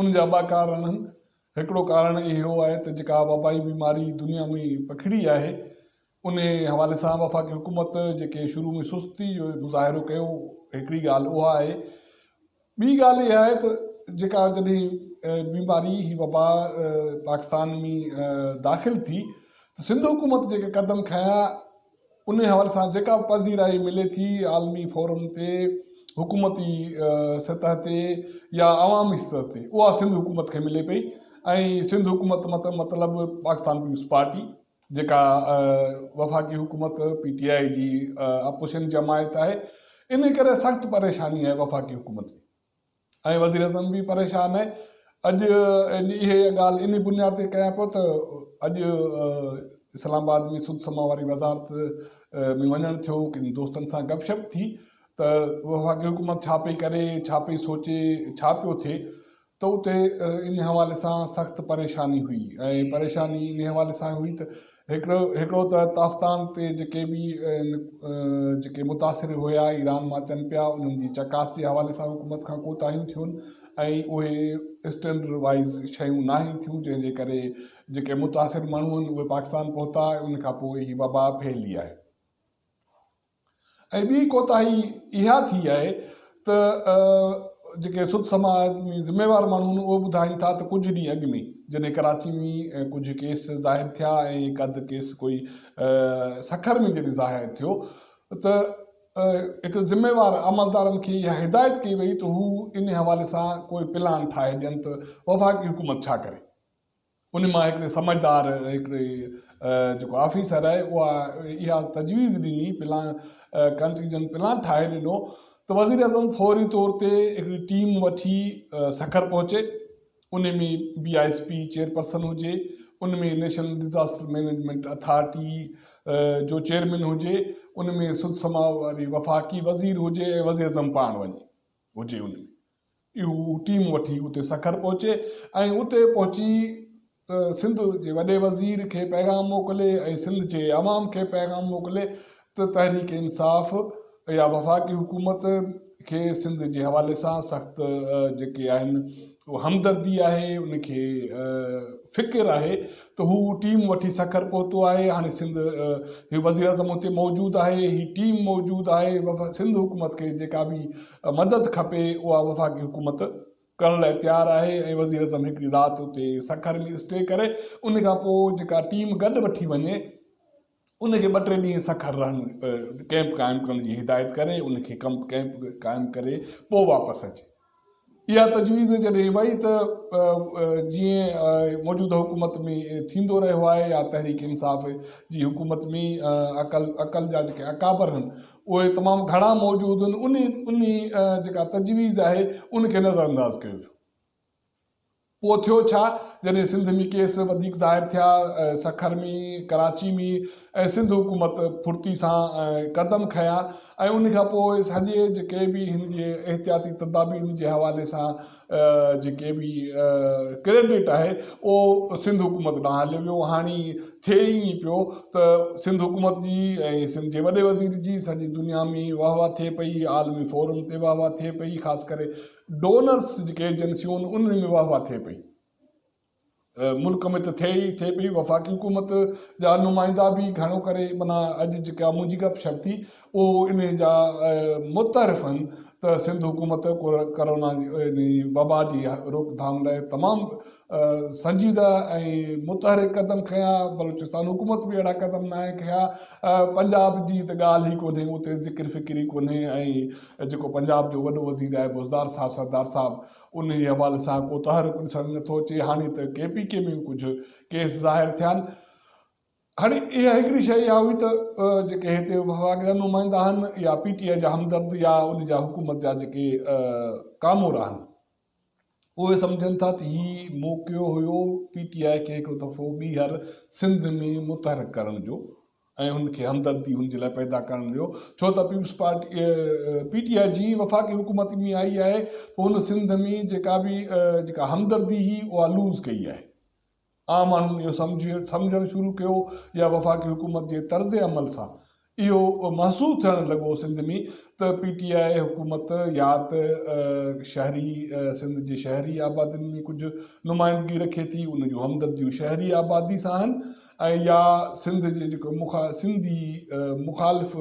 ان جا ٻه ڪارڻ آهن. هڪڙو ڪارڻ اهو آهي ته جيڪا وبائي بيماري دنيا ۾ پکڙي آهي، انهي حوالي سان وفاقي حڪومت جيڪي شروع ۾ سستي جو مظاهرو ڪيو، هڪڙي ڳالهه اها آهي. ٻي ڳالهه اها آهي ته جيڪا جڏهن بيماري هي وبا پاڪستان ۾ داخل ٿي ته سنڌ حڪومت جيڪي قدم کنيا، انهي حوالي سان جيڪا به پذيرائي ملي ٿي عالمي فورم تي، حڪومتي سطح تي يا عوامي سطح تي اها سنڌ حڪومت کي ملي پئي ۽ سنڌ حڪومت مطلب پاڪستان پيپلز پارٽي جيڪا وفاقي حڪومت پي ٽي آء جي اپوزيشن جماعت آهي انهي ڪري سخت پريشاني آهي وفاقي حڪومت کي. ۽ وزيراعظم به پريشان آهي. اڄ اهي ڳالهه انهي بنياد تي ڪيان پيو ته اڄ اسلام آباد ۾ سڌ سماء واري وزارت ۾ وڃڻ ٿيو، ڪن دوستن سان گپ شپ ٿي ته وفاقي حڪومت ڇا پئي ڪري، ڇا پئي سوچي، ڇا پيو ٿئي ته اتي انهي حوالي سان سخت پريشاني هئي ۽ پريشاني انهي حوالي سان هئي ته هڪڙو ته تافتان تي جيڪي به جيڪي متاثر هيا ايران مان اچن پيا انهن جي چڪاس جي حوالي سان حڪومت کان ڪوتاهيون ٿيون ۽ اهي اسٽينڊرڊ وائيز شيون ناهن ٿيون جنهن جي ڪري جيڪي متاثر ماڻهون اهي پاڪستان پهتا ۽ ان کان پوء هي وبا ڦهلي آهي. ۽ ٻي ڪوتاهي اها ٿي آهي ته جيڪي سڌ سماج ۾ ذميوار ماڻهو آهن اهي ٻڌائين ٿا ته ڪجهه ڏينهن اڳ ۾ جڏهن ڪراچي ۾ ڪجهه ڪيس ظاهر ٿيا ۽ هڪ اڌ ڪيس ڪوئي سکر ۾ جڏهن ظاهر ٿيو ته هڪ ذميوار عملدارن کي اها هدايت ڪئي وئي ته هو ان حوالي سان ڪوئي پلان ٺاهي ڏين ته وفاقي حڪومت ڇا ڪري ان مان هڪڙي سمجهدار هڪڙي جيڪو آفيسر آهي اها اها تجويز ڏني پلان ڪنٽيجنٽ پلان ٺاهي ڏنو ته وزيراعظم فوري طور تي هڪڙي ٽيم وٺي سکر پهچي ان ۾ B I S P chairperson هجي ان ۾ نيشنل ڊزاسٽر مينيجمينٽ اٿارٽي جو چيئرمين هجي ان ۾ سڌ سماء واري وفاقي وزير هجي ۽ وزيراعظم پاڻ وڃي هجي ان ۾ اهو ٽيم وٺي اتي سکر پهچي ۽ اتي پهچي سنڌ جي وڏي وزير کي پيغام موڪلي ۽ سنڌ جي عوام کي پيغام موڪلي ته تحريڪ انصاف يا وفاقي حڪومت کي سنڌ جي حوالي سان سخت جيڪي آهن همدردي آهي ان کي فڪر آهي ته هو ٽيم وٺي سکر پهتو آهي هاڻي سنڌ هي وزيراعظم اتي موجود آهي هي ٽيم موجود آهي سنڌ حڪومت کي جيڪا به مدد کپي اها وفاقي حڪومت ڪرڻ لاء تيار آهي ۽ وزيراعظم هڪڙي رات اتي سکر ۾ اسٽي ڪري ان کان پوء جيڪا ٽيم گڏ وٺي وڃي ان کي ٻه ٽي ڏينهن سکر رهڻ ڪئمپ قائم ڪرڻ جي هدايت ڪري ان کي ڪمپ ڪئمپ قائم ڪري پوء واپس اچي اها تجويز جڏهن وئي ته جيئن موجوده حڪومت ۾ ٿيندو رهيو آهي يا تحريڪ انصاف جي حڪومت ۾ عقل عقل جا جيڪي اڪابر آهن اهي تمام گهڻا موجود آهن ان ان جيڪا تجويز آهي ان کي نظر انداز ڪيو ويو پوء ٿيو ڇا؟ جڏهن سنڌ ۾ ڪيس وڌيڪ ظاهر ٿيا، سکر ۾، ڪراچي ۾ ۽ سنڌ حڪومت ڦڙتي سان قدم کنيا ۽ ان کان پوء سڄي جيڪي به هن جي احتياطي تدابيرن جي حوالي سان جيڪي به ڪريڊٽ آهي اهو سنڌ حڪومت ڏانهن هليو ويو. هاڻي ٿئي ائين پيو ته سنڌ حڪومت جي ۽ سنڌ جي وڏي وزير جي سڄي دنيا ۾ واهوا ٿئي پئي، عالمي فورم تي واهوا ٿئي پئي، خاص ڪري ڊونرز جيڪي ايجنسيون ان ۾ واهه واهه ٿئي پئي ملڪ ۾ ته ٿئي ئي ٿئي پئي وفاقي حڪومت جا نمائندا به گهڻو ڪري منا اڄ جيڪا منهنجي گپ شپ ٿي اهو ان جا متعارف آهن ته سنڌ حڪومت ڪورونا جي وبا جي روڪٿام لاء تمام سنجيده ۽ متحرڪ قدم کنيا بلوچستان حڪومت به اهڙا قدم ناهي کنيا پنجاب جي ته ڳالهه ئي ڪونهي اتي ذڪر فڪر ئي ڪونهي ۽ ۽ جيڪو پنجاب جو وڏو وزير آهي بوزدار صاحب سردار صاحب انهي حوالي سان ڪو تحرڪ ڏسڻ نه ٿو اچي هاڻي ته ڪي پي ڪي ۾ به ڪجهه ڪيس ظاهر ٿيا آهن هاڻي اها هڪڙي شئي اها هئي ته جيڪي هتي وفاق جا نمائندا آهن يا پي ٽي آء جا همدرد يا ان جا حڪومت جا جيڪي ڪامور آهن اهي سمجهن ٿا ته هي موقعو هيو پي ٽي آء کي هڪڙو دفعو ٻيهر سنڌ ۾ متحرڪ ڪرڻ جو ۽ هن کي همدردي هن جي لاء پيدا ڪرڻ جو ڇو ته peoples party P T I جي وفاقي حڪومت ۾ آئي آهي ته هن سنڌ ۾ جيڪا به جيڪا همدردي هي اها لوز ڪئي آهي عام ماڻهن اهو سمجهڻ شروع ڪيو يا وفاقي حڪومت جي طرز عمل سان اهو محسوس ٿيڻ لڳو سنڌ ۾ ته پي ٽي آء حڪومت يا ته شهري سنڌ جي شهري آبادين ۾ ڪجهه نمائندگي رکي ٿي ان جون همدرديون شهري آبادي سان آهن ۽ يا سنڌ جي جيڪو سنڌي مخالف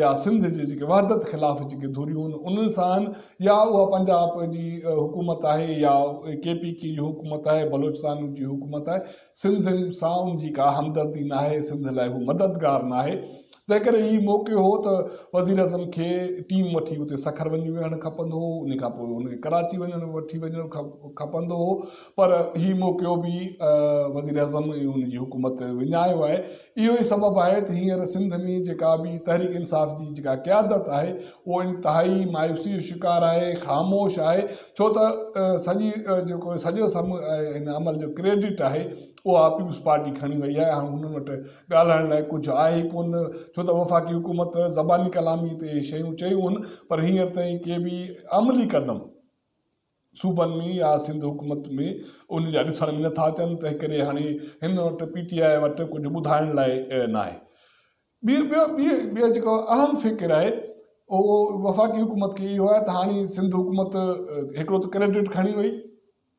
يا سنڌ جي جيڪي وحدت خلاف جيڪي ڌريون آهن انهن سان يا اها پنجاب جي حڪومت آهي يا ڪي پي ڪي جي حڪومت آهي بلوچستان جي حڪومت آهي سنڌ سان ان جي ڪا همدردي ناهي سنڌ لاء هو مددگار ناهي تنهن ڪري هي موقعو هو ته وزيراعظم کي ٽيم وٺي اتي سکر وڃي ويهڻ کپندو هو ان کان پوء هن کي ڪراچي وڃڻ وٺي وڃڻ کپندو هو پر هي موقعو به وزيراعظم ۽ ان جي حڪومت وڃايو آهي اهو ئي سبب آهي ته هينئر سنڌ ۾ جيڪا به تحريڪ انصاف جي جيڪا قيادت آهي اهو انتهائي مايوسي جو شڪار آهي، خاموش آهي ڇو ته سڄي جيڪو سڄو هن عمل جو ڪريڊٽ آهي اها پيپلز پارٽي کڻي وئي آهي هاڻ هنن وٽ ڳالهائڻ لاء ڪجهه آهي ئي ڪونه ڇو ته وفاقي حڪومت زباني ڪلامي تي شيون چيون هن پر هينئر تائين ڪي به عملي قدم صوبن ۾ يا سنڌ حڪومت ۾ ان جا ڏسڻ ۾ نٿا اچن تنهنڪري هاڻي هن وٽ پي ٽي آء وٽ ڪجهه ٻڌائڻ لاء ناهي. ٻيو ٻيو ٻيو ٻيو جيڪو اهم فڪر آهي اهو وفاقي حڪومت کي اهو آهي ته هاڻي سنڌ حڪومت هڪڙو ته ڪريڊٽ کڻي وئي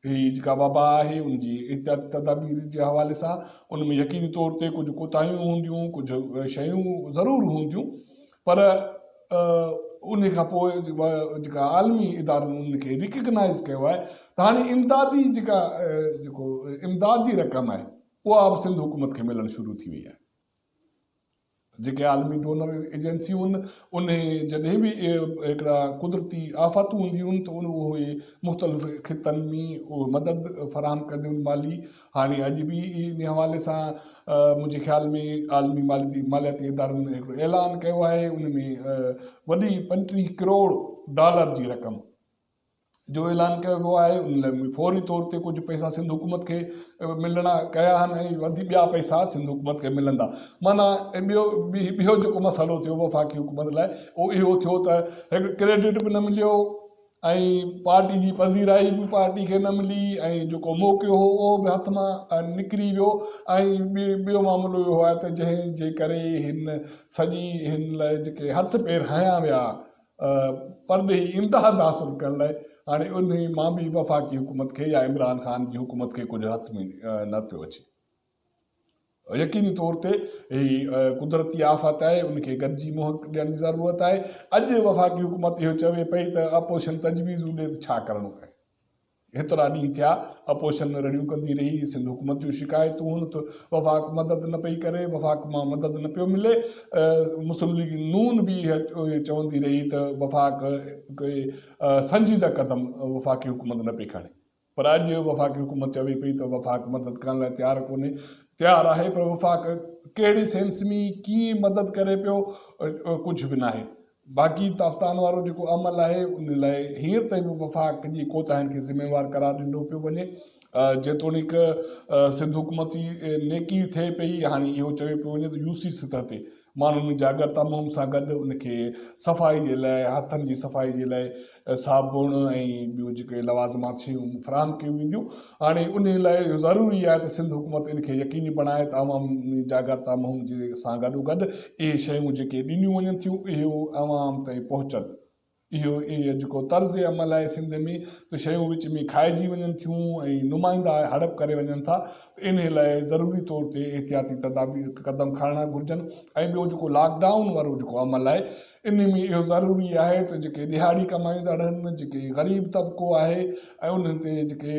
هي جيڪا وبا آهي ان جي احتياطي تدابير جي حوالي سان ان ۾ يقيني طور تي ڪجهه ڪوتاهيون هونديون ڪجهه شيون ضرور هونديون پر انهي کان پوء جيڪا عالمي ادارن ان کي ريڪگنائيز ڪيو آهي ته هاڻي امدادي جيڪا جيڪو امداد جي رقم آهي اها به سنڌ حڪومت کي ملڻ شروع ٿي وئي آهي جيڪي عالمي ڊونر ايجنسيون ان جڏهن به هڪڙا قدرتي آفاتون هونديون ته ان اهي مختلف خطن ۾ مدد فراهم ڪنديون مالي هاڻي اڄ به انهي حوالي سان منهنجي خيال ۾ عالمي مالياتي ادارن هڪڙو اعلان ڪيو آهي ان ۾ وڏي پنٽيهه ڪروڙ ڊالر جي رقم جو اعلان ڪيو ويو آهي ان لاء فوري طور تي ڪجهه پئسا سنڌ حڪومت کي ملڻا ڪيا آهن ۽ وڌي ٻيا پئسا سنڌ حڪومت کي ملندا مانا ٻيو ٻيو جيڪو مسئلو ٿيو وفاقي حڪومت لاء اهو اهو ٿيو ته هڪ ڪريڊٽ به نه مليو ۽ پارٽي جي پذيرائي به پارٽي کي نه ملي ۽ جيڪو موقعو هو اهو به هٿ مان نڪري ويو ۽ ٻيو معاملو اهو آهي ته جنهن جي ڪري هن سڄي هن لاء جيڪي هٿ پير هنيا ويا پرڏيهي امداد حاصل ڪرڻ لاء هاڻي انهي مان به وفاقي حڪومت کي يا عمران خان جي حڪومت کي ڪجهه هٿ ۾ نه پيو اچي. يقيني طور تي هي قدرتي آفت آهي ان کي گڏجي منهن ڏيڻ جي ضرورت آهي اڄ وفاقي حڪومت اهو چوي پئي ته اپوزيشن تجويزون ڏي ته ڇا ڪرڻو پئي هيترا ڏينهن ٿيا اپوزيشن رڙيون ڪندي رهي سنڌ حڪومت جون شڪايتون هن ته وفاق مدد نه پئي ڪري وفاق مان مدد نه پيو ملي مسلم ليگ نون به چوندي رهي ته وفاق سنجيده قدم وفاقي حڪومت نه پئي کڻي پر اڄ وفاقي حڪومت چوي پئي ته وفاق مدد ڪرڻ لاء تيار ڪونهي، تيار آهي پر وفاق ڪهڙي سينس ۾ ڪيئن مدد ڪري پيو ڪجهه به ناهي. باقي تافتان وارو جيڪو عمل آهي ان لاء هينئر تائين به وفاق جي ڪوتاهين کي ذميوار قرار ڏنو پيو وڃي جيتوڻيڪ سنڌ حڪومت جي نيڪي ٿئي پئي هاڻي اهو چيو پيو وڃي ته يو سي سطح تي ماڻهن جاڳر تموم سان گڏ ان کي صفائي جي لاء هٿن جي صفائي جي لاء صابڻ ۽ ٻيون جيڪي لوازمات شيون فراهم ڪيون وينديون هاڻي انهي لاء اهو ضروري آهي ته سنڌ حڪومت ان کي يقيني بڻائي ته عوام ۾ جاڳر تموم سان گڏوگڏ اهي شيون جيڪي ڏنيون وڃن ٿيون اهي عوام تائين پهچن. اهو ئي جيڪو طرز عمل آهي سنڌ ۾ ته شيون وچ ۾ کائجي وڃن ٿيون ۽ نمائندا هڙپ ڪري وڃن ٿا ته انهي لاء ضروري طور تي احتياطي تدابير قدم کڻڻا گهرجن ۽ ٻيو جيڪو لاڪ ڊائون وارو جيڪو عمل آهي انهي ۾ اهو ضروري آهي ته جيڪي ڏهاڙي ڪمائيندڙ آهن جيڪي غريب طبقو آهي ۽ انهن تي جيڪي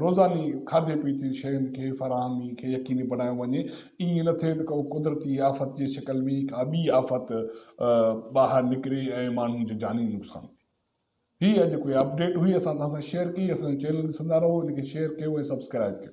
روزاني کاڌي پيتي شين کي فراهمي کي يقيني بڻايو وڃي ائين نه ٿئي ته ڪو قدرتي آفت جي شڪل ۾ ڪا ٻي آفت ٻاهر نڪري ۽ ماڻهن جو جاني نقصان ٿي هي اڄ ڪوئي اپڊيٽ هئي اسان توهان سان شيئر ڪئي اسان جو چينل ڏسندا رهو ان کي شيئر ڪيو ۽ سبسڪرائيب ڪيو.